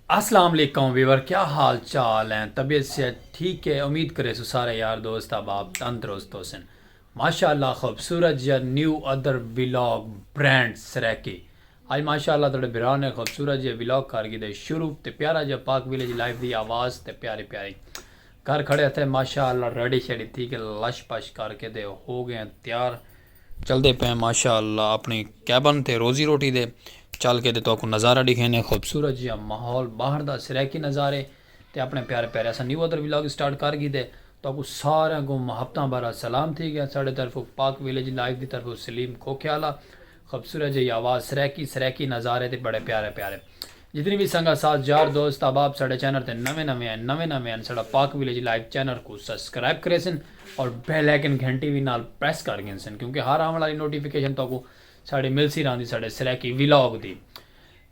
اسلام علیکم ویور کیا حال چال ہیں طبیعت صحت ٹھیک ہے امید کرے سو سارے یار دوست احباب تندرست ہو سن ماشاءاللہ خوبصورت جا new other vlog brand Saraiki آج ماشاءاللہ تھوڑے بھرا نے خوبصورت جا ویلاگ کر گی دے شروع تے پیارا جا پاک ویلیج لائف دی آواز تے پیاری پیاری گھر کھڑے تھے ماشاءاللہ ریڈی شیڈی تھی کہ لش پش کر کے دے ہو گئے تیار چلدے پئے ماشاء اللہ اپݨی کیبن تے روزی روٹی دے چل کے تے تہاکوں نظارہ ݙکھیندے خوبصورت جیہا ماحول باہر دا سرائیکی نظارے تے اپݨے پیارے پیارے اساں نیو ادر ولاگ سٹارٹ کر گھیدے تہاکوں ساریاں کوں محبتاں بھرا سلام تھی ڳیا ساݙے طرفوں پاک ولیج لائف دی طرفوں سلیم کھوکھیالہ خوبصورت جیہی آواز سرائیکی سرائیکی نظارے تے بڑے پیارے پیارے جتنی وی سنگت ساز یار دوست احباب ساڈے چینل تے نویں نویں ہن نویں نویں ہن ساڈا پاک ولیج لائیو چینل کوں سسکرائب کریسن اور بیل آئیکن گھنٹی وی نال پریس کر گھنسن کیونکہ ہر آون آلی نوٹیفکیشن تہاکوں ساڈی ملسی راہندی ساڈے سرائیکی ولاگ دی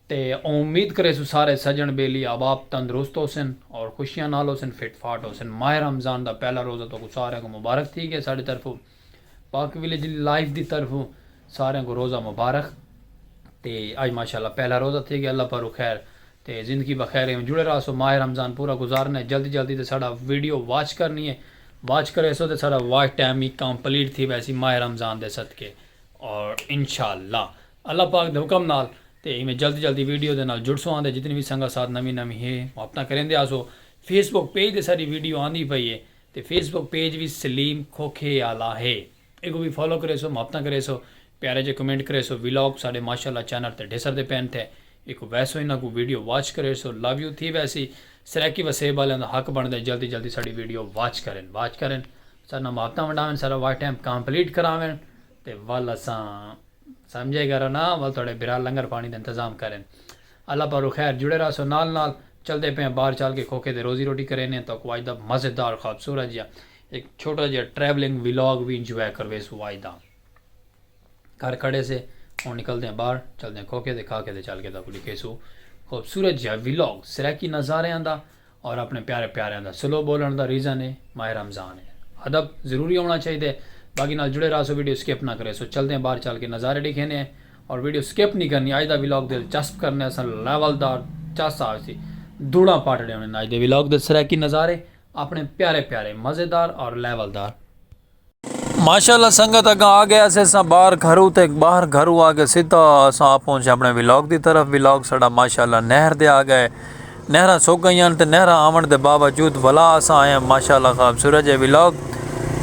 تے اوں امید کریسوں سارے سجن بیلی احباب تندرست ہوسن اور خوشیاں نال ہوسن فٹ فاٹ ہوسن ماہ رمضان دا پہلا روزہ تہاکوں ساریاں کوں مبارک تھی گئے ساڈی طرفوں پاک ویلیج لائف دی طرفوں ساریاں کو روزہ مبارخ تے اج ماشاءاللہ پہلا روزہ تھئے گیا اللہ پاروں خیر تے زندگی بخیر ایویں جڑے رہاسو ماہ رمضان پورا گزارنا ہے جلدی جلدی تے ساڈا ویڈیو واچ کرنی ہے واچ کریسو تے ساڈا واچ ٹائم ہی کمپلیٹ تھی ویسی ماہ رمضان دے صدقے اور انشاءاللہ اللہ پاک دے حکم نال تے ایویں جلدی جلدی ویڈیو دے نال جڑسو آندے جتنی وی سنگت ساتھ نویں نویں ہے وہ اپنا کریندے آسو فیس بک پیج تے ساڈی ویڈیو آندی پئی ہے تے فیس بک پیج وی سلیم کھوکھے آلا ہے ایکوں وی فالو کریسو محبتاں کریسو پیارے جے کمنٹ کریسو ولاگ ساڈے ماشاءاللہ چینل تے ڈھسر دے پین تھے ایکوں ویسو انہاں کوں ویڈیو واچ کریسو لو یو تھی ویسی سرائیکی وسیب آلیاں دا حق بنڑدے جلدی جلدی ساڈی ویڈیو واچ کرن واچ کرن ساڈے نال محبتاں ونڈاون ساڈا واچ ٹائم کمپلیٹ کراون تے ول اساں سمجھے گرو نا ول تہاڈے بھرا لنگر پانی دا انتظام کرن۔ اللہ پاروں خیر جڑے رہسو نال نال چلدے پئے آں بار چال کے کھوکھے تے روزی روٹی کرینے آں تاکوں آج دا مزیدار خوبصورت جیہا ہک چھوٹا جیہا ٹریولنگ ولاگ وی انجوائے کرویسوں آج دا گھر کھڑے سے ہن نکلدے آں بار چلدے آں کھوکھے تے کھاکھے تے چل کے تاکوں ڈکھیسوں خوبصورت جیہا ولاگ سرائیکی نظاریاں دا اور اپنے پیارے پیاریاں دا سلو بولن دا ریزن اے ماہ رمضان اے ادب ضروری ہونا چاہیدے باقی نال جڑے راہسو ویڈیو اسکپ نہ کریسو چلدے ہیں باہر چل کے نظارے ڈیکھینے ہیں اور ویڈیو اسکپ نی کرنی اج دا ولاگ دل چسپ کرنے اساں لیول دار چس آوسی دھوڑاں پاٹڑے ہونے اج دے ولاگ دے سرائیکی نظارے اپنے پیارے پیارے مزیدار اور لیول دار۔ ماشاءاللہ سنگت اگاں آ گئے اسے ساں باہر گھرو تے باہر گھرو آ کے سیدھا اساں آپ پہنچے اپنے ولاگ دی طرف ولاگ ساڈا ماشاءاللہ نہر دے آ گئے نہراں سک گئیاں تے نہراں آون دے باوجود ولا اساں آئے ہاں ماشاءاللہ خوبصورت جے ولاگ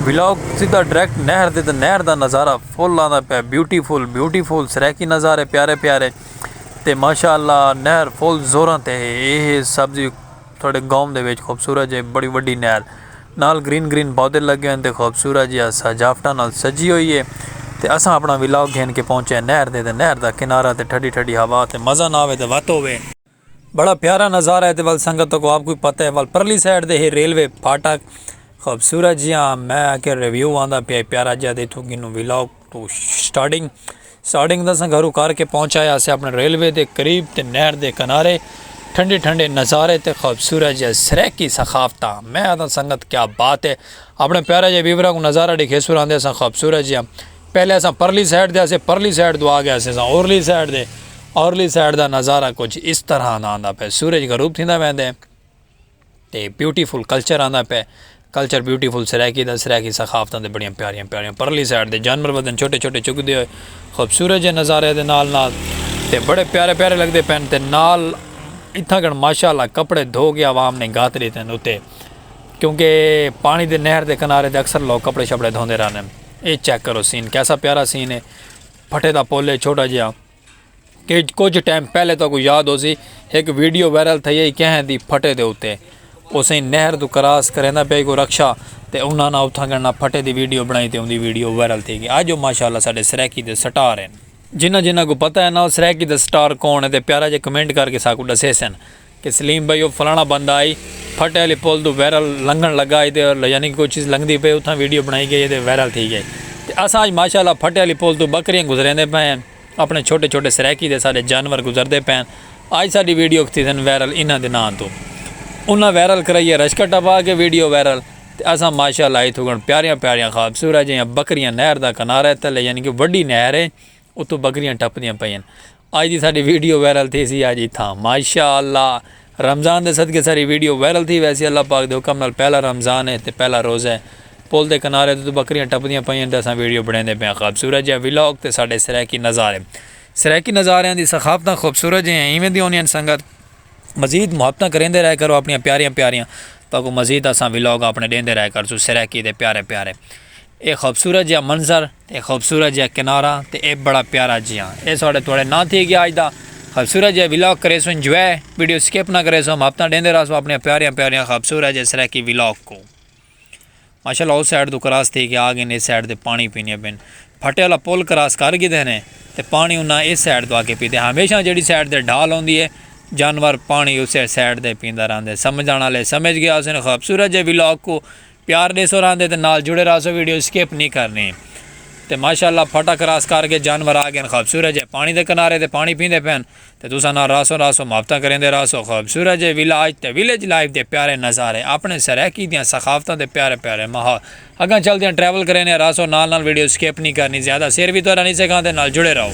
ولاگ سیدھا ڈائریکٹ نہر دے تے نہر دا نظارہ full beautiful beautiful بیوٹی فل سرائیکی نظارے پیارے پیارے تے ماشاءاللہ نہر فل زوراں تے اے سبزی تہاڈے گاؤں دے وچ خوبصورت جئی بڑی وڈی نہر نال گرین گرین پودے لگے ہوئے ہن تے خوبصورت جیہا سجاوٹاں نال سجی ہوئی ہے تے اساں اپنا ولاگ گھن کے پہنچے ہیں نہر دے تے نہر دا کنارہ تے ٹھڈی ٹھڈی ہوا تے مزہ نہ ہووے تے وت ہووے۔ بڑا پیارا نظارہ ہے تے ول سنگت تہاکوں آپ کوئی پتہ ہے ول پرلی سائیڈ دے ہے ریلوے پھاٹک خوبصورت جیہا میں آکھیا ریویو آندا پیا ہے پیارا جیہا تے اتھوں گھنوں ولاگ۔ توں سٹارٹنگ سٹارٹنگ تاں اساں گھرو کر کے پہنچائے آسے اپنے ریلوے دے قریب تے نہر دے کنارے ٹھنڈے ٹھنڈے نظارے تے خوبصورت جے سریکی ثقافتاں میں آدھا سنگت کیا بات ہے اپنے پیارے جے ویورا کو نظارہ ڈیکھے سو راندے اساں خوبصورت جیاں پہلے اساں پرلی سائیڈ دے آسے پرلی سائیڈ دو آگے آسے اساں اورلی سائیڈ دے اورلی سائیڈ دا نظارہ کچھ اس طرح دا آندہ پہ سورج غروب تھیندہ ویندے تے بیوٹی فل کلچر آندا پئے کلچر بیوٹی فل سرائیکی دا سرائیکی ثقافتاں تے بڑیاں پیاریاں پیاریاں پرلی سائیڈ دے جانور ودن چھوٹے چھوٹے چگدے ہوئے خوبصورت جے نظارے دے نال نال تے بڑے پیارے پیارے لگدے پئن تے نال اتھاں کن ماشاءاللہ کپڑے دھو کے عوام نے گھات ڈیتے ہن اتے کیونکہ پانی دے نہر دے کنارے تے اکثر لوگ کپڑے شپڑے دھوندے رہندے ہن اے چیک کرو سین کیسا پیارا سین ہے پھٹے دا پل ہے چھوٹا جیہا کجھ ٹائم پہلے تہاکوں یاد ہوسی ہک ویڈیو وائرل تھئی ہئی کہیں دی پھٹے دے اتے اسیں نہر توں کراس کریندا پیا ہئی کوئی رکشہ تے انہاں نا اتھاں گنڑنا پھٹے دی ویڈیو بنڑائی تے اوندی ویڈیو وائرل تھی گئی اج او ماشاءاللہ ساڈے سرائیکی دے سٹار ہن۔ جنہاں جنہاں کوں پتہ ہے نا او سرائیکی دا سٹار کون ہے تے پیارا جیا کمنٹ کر کے ساکوں ڈسیسن۔ کہ سلیم بھائی او فلانا بندہ ہئی پھٹے آلی پل توں وائرل لنگھن لگا ہئی تے یعنی کوئی چیز لنگھدی پئی اتھاں ویڈیو بنائی گئی تے وائرل تھی گئی تے اساں اج ماشاءاللہ پھٹے آلی پل توں بکریاں گزریندے پئے ہن اپنے چھوٹے چھوٹے سرائیکی تے سارے جانور گزردے پئے ہن اج ساڈی ویڈیو تھیسن وائرل انہاں دے ناں توں انہاں وائرل کرائی ہے رشکہ ٹپا کے ویڈیو وائرل تے اساں ماشاءاللہ ہئی تھکن پیاریاں پیاریاں خوبصورت جیہاں بکریاں نہر دا کنارے تلے یعنی کہ وڈی نہر ہے اتھوں بکریاں ٹپدیاں پئی ہن۔ اج دی ساڈی ویڈیو وائرل تھیسی اج اتھاں ماشاء اللہ رمضان دے صدقے ساری ویڈیو وائرل تھی ویسی اللہ پاک دے حکم نال پہلا رمضان ہے تے پہلا روزہ ہے پل دے کنارے توں بکریاں ٹپدیاں پئیاں تے اساں ویڈیو بنڑیندے پئے آں خابصورت جیہا ولاگ تے ساڈے سرائیکی نظارے سرائیکی نظاریاں دی ثقافتاں خوبصورت جیہاں ایویں دی ہوندیاں ہن سنگت مزید محبتاں کریندے رہے کرو اپنیاں پیاریاں پیاریاں تاکوں مزید اساں ولاگ اپنے ڈیندے رہے کرسوں سرائیکی دے پیارے پیارے اے خوبصورت جیہا منظر تے خوبصورت جیہا کنارہ تے ایہ بڑا پیارا جیہاں ایہ ساڈے تواڈے نال تھی گیا اج دا خوبصورت جیہا ولاگ کریسوں انجوائے ویڈیو سکپ نہ کریسوں محبتاں ڈیندے رہسوں اپنیاں پیاریاں پیاریاں خوبصورت جیہے سرائیکی ولاگ کو ماشاءاللہ او سائیڈ تو کراس تھی گیا آ گئے اس سائیڈ تے پانی پینے پن پھٹے والا پل کراس کر گئے نے تے پانی انہاں اس سائیڈ تو آ کے پیتے ہمیشہ جیڑی سائیڈ تے ڈھال ہوندی ہے جانور پانی اسے سائیڈ تے پیندا رہندے سمجھانا لے سمجھ گیا اسے خوبصورت جیہے ولاگ کو پیار ڈیسو راندے تے نال جڑے راسو ویڈیو سکپ نی کرنی تے ماشاءاللہ پھٹا کراس کر گئے جانور آ گئن خوبصورت جئے پانی دے کنارے تے پانی پیندے پئن تے تساں نال راسوں راسوں محبتاں کریندے راسو خوبصورت جئے ولاج تے ولیج لائف دے پیارے نظارے اپنے سرائیکی دیاں ثقافتاں تے پیارے پیارے ماحول اگاں چلدیاں ٹریول کرینے راسو نال نال ویڈیو سکپ نی کرنی زیادہ سیر وی تہاڈا نی سکھاندے نال جڑے رہو۔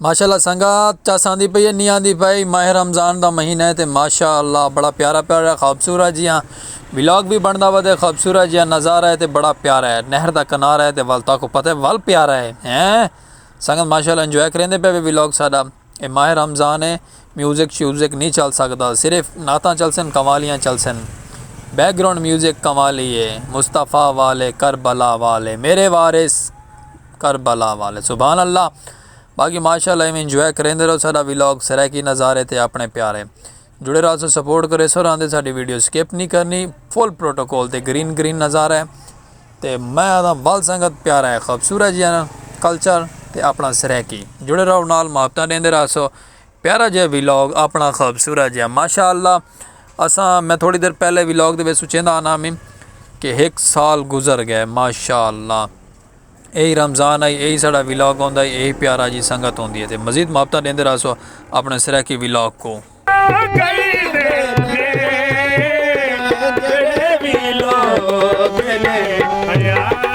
ماشاء اللہ سنگت چس آندی پئی ہے نہیں آندی پئی ماہ رمضان دا مہینہ ہے تے ماشاء اللہ بڑا پیارا پیارا خوبصورت جیاں ولاگ بھی بندا وا تے خوبصورت جیاں نظارہ ہے تے بڑا پیارا ہے نہر دا کنارہ ہے تے ول تاکو پتہ ہے ول پیارا ہے ہیں سنگت ماشاء اللہ انجوائے کریندے پے ولاگ ساڈا اے ماہ رمضان ہے میوزک شیوزک نی چل سگدا صرف نعتاں چلسن قوالیاں چلسن بیک گراؤنڈ میوزک قوالی اے مصطفی والے کربلا والے میرے وارث کربلا والے سبحان اللہ باقی ماشاءاللہ ایویں انجوائے کریندے رہو ساڈا ولاگ سرائیکی نظارے تے اپنے پیارے جڑے راسو سپورٹ کرے سو راندے ساڈی ویڈیو سکپ نہیں کرنی فل پروٹوکول تے گرین گرین نظارہ ہے تے میں آدھا ول سنگت پیارا ہے خوبصورت جی کلچر تے اپنا سرائیکی جڑے رہو نال محبتہ دیندے راسو پیارا جیہا ویلاگ اپنا خوبصورت جیہا ماشاء اللہ اساں میں تھوڑی دیر پہلے ویلاگ دے وچ سچیندا آنا میں کہ ہک سال گزر گئے ماشاء اللہ یہی رمضان آئی یہی ساڑا ویلاگ ہوندا ہے یہی پیارا جی سنگت ہوندی ہے تے مزید محبتاں دیندے رہسو اپنے سرائیکی ویلاگ کو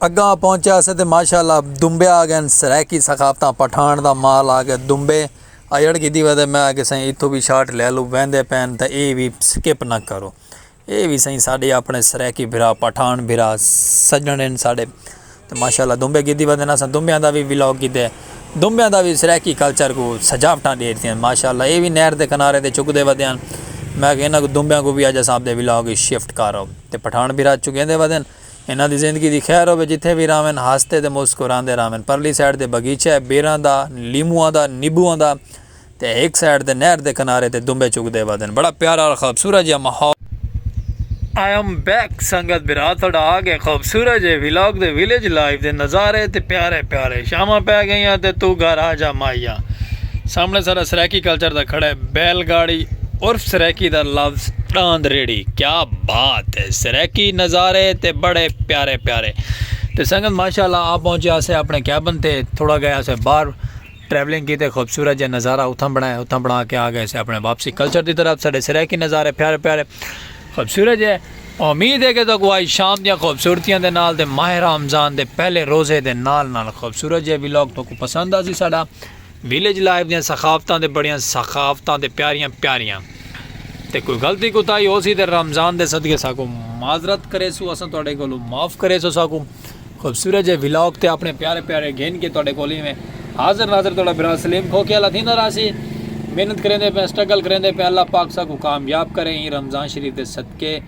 اگاں پہنچیا سے تے ماشاء اللہ دنبے آ گئن سرائیکی ثقافتاں پٹھان دا مال آ گئے دنبے ایڑ کیتی وے تے میں آکھیا سائیں اتھو بھی شاٹ لے لو ویندے پین تے اے وی سکپ نہ کرو اے وی سائیں ساڈے اپنے سرائیکی بھرا پٹھان بھرا سجن ہن ساڈے تے ماشاء اللہ دنبے کیتی وے تے اساں دنبیاں دا وی ولاگ کیتے دنبیاں دا وی سرائیکی کلچر کو سجاوٹاں ڈے ڈتیاں ماشاء اللہ اے وی نہر دے کنارے تے چک دے وے دیاں میں آکھیا انہاں کو دنبیاں کو وی اج اساں اپنے ولاگ شفٹ کر آؤ تے پٹھان بھرا چکیندے وے دین انہاں دی زندگی دی خیر ہووے جتھے وی راہون ہسدے تے مسکراندے راہون پرلی سائیڈ تے بغیچہ ہے بیراں دا لیمواں دا نیبواں دا تے ہک سائیڈ تے نہر دے کنارے تے دنبے چگدے ودن بڑا پیارا اور خوبصورت جیہا ماحول۔ آئی ایم بیک سنگت بھرا تہاڈا آ گئے خوبصورت جے ولاگ دے ولیج لائف دے نظارے تے پیارے پیارے شاماں پے گئیاں تے توں گھر آ جا ماہیا سامنے ساڈا سرائیکی کلچر دا کھڑا ہے بیل گاڑی۔ عرف سرائیکی دا لفظ ݙاند ریڑھی کیا بات ہے سرائیکی نظارے تے بڑے پیارے پیارے تے سنگت ماشاءاللہ آ پہنچے اسے اپنے کیبن تے تھوڑا گئے اسے باہر ٹریولنگ کی تے خوبصورت جے نظارہ اتھاں بنایا اتھاں بنا کے آ گئے اسے اپنے واپسی کلچر دی طرف ساڈے سرائیکی نظارے پیارے پیارے خوبصورت جے امید ہے کہ تو کوئی شام دیاں خوبصورتیاں دے نال دے ماہ رمضان دے پہلے روزے دے نال نال خوبصورت جے ویلاگ تو کو پسند آسی ساڈا ویلیج لائف دیاں ثقافتاں تے بڑیاں ثقافتاں تے پیاریاں پیاریاں تے کوئی غلطی کوتاہی ہوسی تے رمضان دے صدقے ساکوں معذرت کریسو اساں تہاڈے کولوں معاف کریسو ساکوں خوبصورت جے ولاگ تے اپنے پیارے پیارے گھن کے تہاڈے کول ایویں حاضر ناظر تہاڈا بھرا سلیم کھوکھے والا تھیندا راہسی محنت کریندے پئے سٹرگل کریندے پئے اللہ پاک ساکوں کامیاب کرے ایں رمضان شریف دے صدقے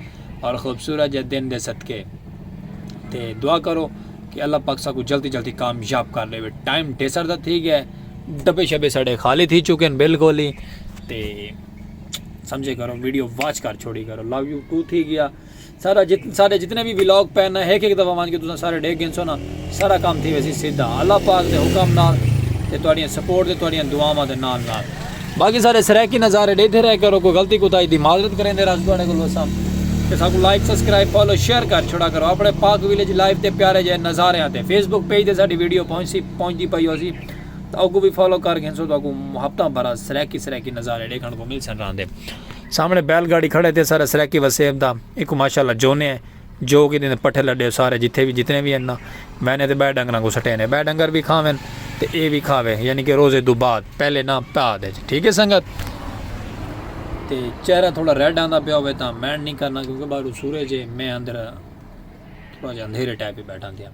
اور خوبصورت جے دن دے صدقے تے دعا کرو کہ اللہ پاک ساکوں جلدی جلدی کامیاب کر ڈیوے ٹائم ڈیسر دا تھی گیا ڈبے شبے سڑے خالی تھی چکے ہیں بالکل ہی تے سمجھے کرو ویڈیو واچ کر چھوڑی کرو لو یو ٹو تھی گیا سارا جت سارے جتنے بھی ولاگ پہ نا ایک ایک دفعہ مان کے تساں سارے ڈیکھ گئے سو نا سارا کام تھی ویسی سیدھا اللہ پاک دے حکم نال تے تہاڈیاں سپورٹ تے تہاڈیاں دعاواں دے نال نال باقی سارے سرائیکی نظارے ڈیتے رہے کرو کوئی غلطی کوتاہی دی معذرت کریندے راضی تواڈے کول وساں تے ساکوں لائک سبسکرائب فالو شیئر کر چھوڑا کرو اپنے پاک ویلیج لائف تے پیارے جے نظاریاں تے فیس بک پیج تے ساڈی ویڈیو پہنچسی پہنچدی پئی ہوسی تاں اوکوں وی فالو کر گھنسو تہاکوں محبتاں بھرا سرائیکی سرائیکی نظارے ڈیکھن کوں ملسن راندے سامنے بیل گاڑی کھڑے تے سارے سرائیکی وسیب دا ایکوں ماشاءاللہ جونے جو کیتے نے پٹھے لڈے سارے جتھے وی جتنے وی ہن نا میں نے تے بئے ڈنگراں کوں سٹینے بئے ڈنگر وی کھاون تے اے وی کھاوے یعنی کہ روزے دو بعد پہلے نا پاد اچ ٹھیک ہے سنگت تے چہرہ تھوڑا ریڈ آندا پیا ہوے تاں مینڈ نہیں کرنا کیونکہ باہر سورج ہے میں اندر تھوڑا جا اندھیرے ٹائپ ہی بیٹھا دیا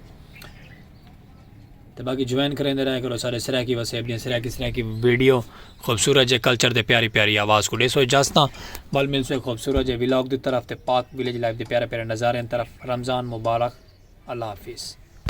تے باقی جوائن کریندے رہیا کرو سارے سرائیکی وسیب دیاں سرائیکی سرائیکی ویڈیو خوبصورت جے کلچر دے پیاری پیاری آواز کو ڈیسو اجازتاں ول ملسو ایک خوبصورت جے ولاگ دی طرف تے پاک ویلیج لائف دے پیارے پیارے نظاریاں طرف رمضان مبارک اللہ حافظ